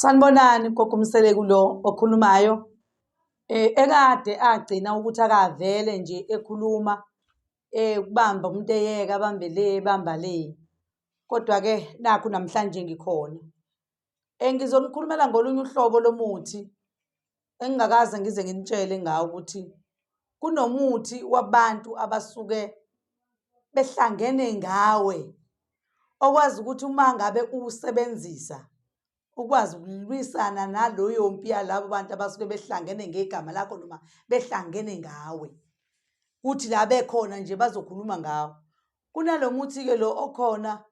Sanibonani gogo Mseleku lo okhulumayo eh ekade agcina ukuthi akavele nje ekhuluma eh kubamba umuntu eyeka bambe le bamba le kodwa ke nakho namhlanje ngikhona engizonikhulumela eh, ngolunye uhlobo lomuthi engingakaze ngize nginitshele ngawo ukuthi kunomuthi wabantu abasuke behlangene ngawe okwazi ukuthi uma ngabe uwusebenzisa ukwazi ukulwisana naloyo mpi yalabo bantu abasuke behlangene ngegama lakho noma behlangene ngawe kuthi la bekhona nje bazokhuluma ngawo kunalo muthi-ke lo okhona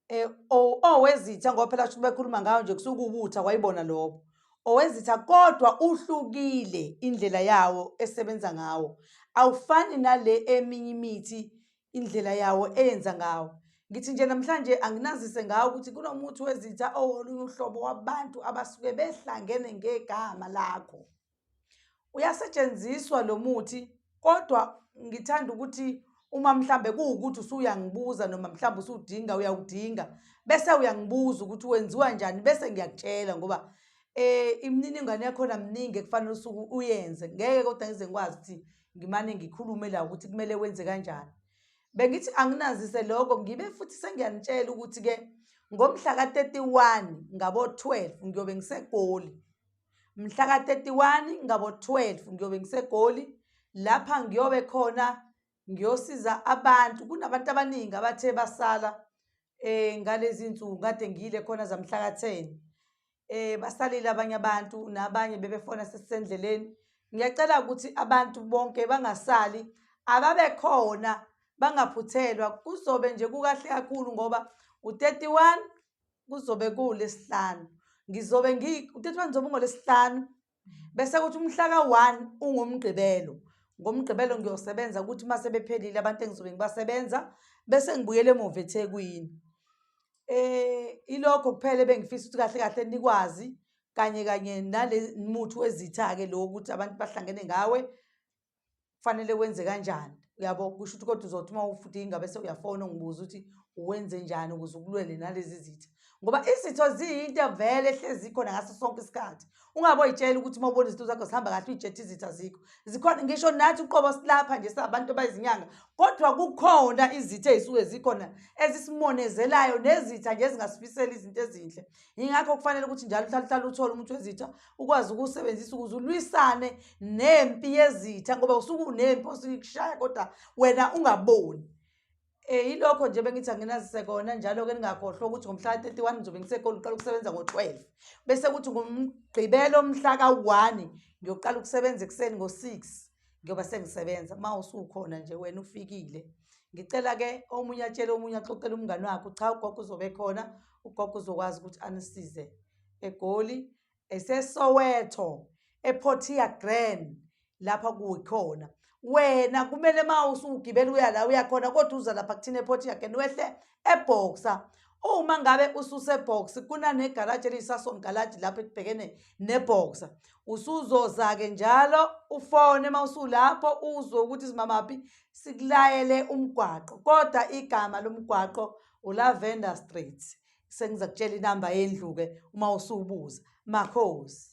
Eh, o- owezitha ngoba phela shuthi bekhuluma ngayo nje kusuke ubutha kwayibona lobo owezitha kodwa uhlukile indlela yawo esebenza ngawo awufani nale eminye imithi indlela yawo eyenza ngawo ngithi nje namhlanje anginazise ngawo ukuthi kunomuthi wezitha owolunye uhlobo wabantu abasuke behlangene ngegama lakho Uyasetshenziswa lo muthi kodwa ngithanda ukuthi uma mhlambe kuwukuthi usuyangibuza noma mhlambe usudinga uyawudinga bese uyangibuza ukuthi wenziwa njani bese ngiyakutshela ngoba eh imininingwane yakhona mningi ekufanele usuku uyenze ngeke kodwa ngize ngikwazi ukuthi ngimane ngikhulume la ukuthi kumele wenze kanjani bengithi anginazise lokho ngibe futhi sengiyanitshela ukuthi ke ngomhla ka-31 ngabo-12 ngiyobe ngisegoli Mhla ka-31 ngabo-12 ngiyobe ngiseGoli lapha ngiyobe khona ngiyosiza abantu kunabantu abaningi abathe basala eh ngalezi nsuku kade ngiyile khona zamhla ka-10 eh basalile abanye abantu nabanye bebefona sesisendleleni ngiyacela ukuthi abantu bonke bangasali ababe khona bangaphuthelwa kuzobe nje kukahle kakhulu ngoba u-31 kuzobe kuwulesihlanu ngizobe ngi utethu wami zobe ungolesihlanu bese kuthi umhla ka-one ungomgqibelo ngomgqibelo ngiyosebenza ukuthi uma sebephelile abantu engizobe ngibasebenza bese ngibuyele emuva ethekwini eh ilokho kuphela ebengifisa ukuthi kahle kahle nikwazi kanye kanye nale muthi wezitha-ke lo ukuthi abantu bahlangene ngawe kufanele wenze kanjani uyabo kusho ukuthi kodwa uzothi uma ufuthi ingabe sewuyafona ungibuza ukuthi uwenze njani ukuze ukulwele nalezi zitha ngoba izitho ziyinto vele ehlezi ikhona ngaso sonke isikhathi ungabe oyitshela ukuthi uma ubona izinto zakho zihamba kahle uyijethe izitha zikho zikhona ngisho nathi uqobo silapha nje sabantu bayizinyanga kodwa kukhona izitha ezisuke zikhona ezisimonezelayo nezitha nje ezingasifiseli izinto ezinhle yingakho kufanele ukuthi njalo uhlale uhlale uthole umuntu wezitha ukwazi ukuwusebenzisa ukuze ulwisane nempi yezitha ngoba usuke unempi osuke ikushaya kodwa wena ungaboni Eh ilokho nje bengithi anginazise kona njalo ke ningakhohlwa ukuthi ngomhla 31 ngizobe ngisekhona uqala ukusebenza ngo12 bese kuthi ngomgqibelo omhla ka1 ngiyoqala ukusebenza ekseni ngo6 ngiyoba sengisebenza uma usukhona nje wena ufikile ngicela ke omunye atshele omunye axoxele umngane wakhe cha ugogo uzobe khona ugogo uzokwazi ukuthi anisize eGoli, eseSoweto, ePortia Grand lapha kuyikhona wena kumele uma usugibela uya la uyakhona kodwa uza lapha kuthina ePortia Grand wehle eBoxer uma ngabe ususebox kunanegaraji eliyisason garaji lapho ekubhekene neboxer usuzoza-ke njalo ufone uma usulapho uzwe ukuthi simamaphi sikulayele umgwaqo kodwa igama lomgwaqo ulavender street sengiza kutshela inamba yendlu-ke uma usubuza makhosi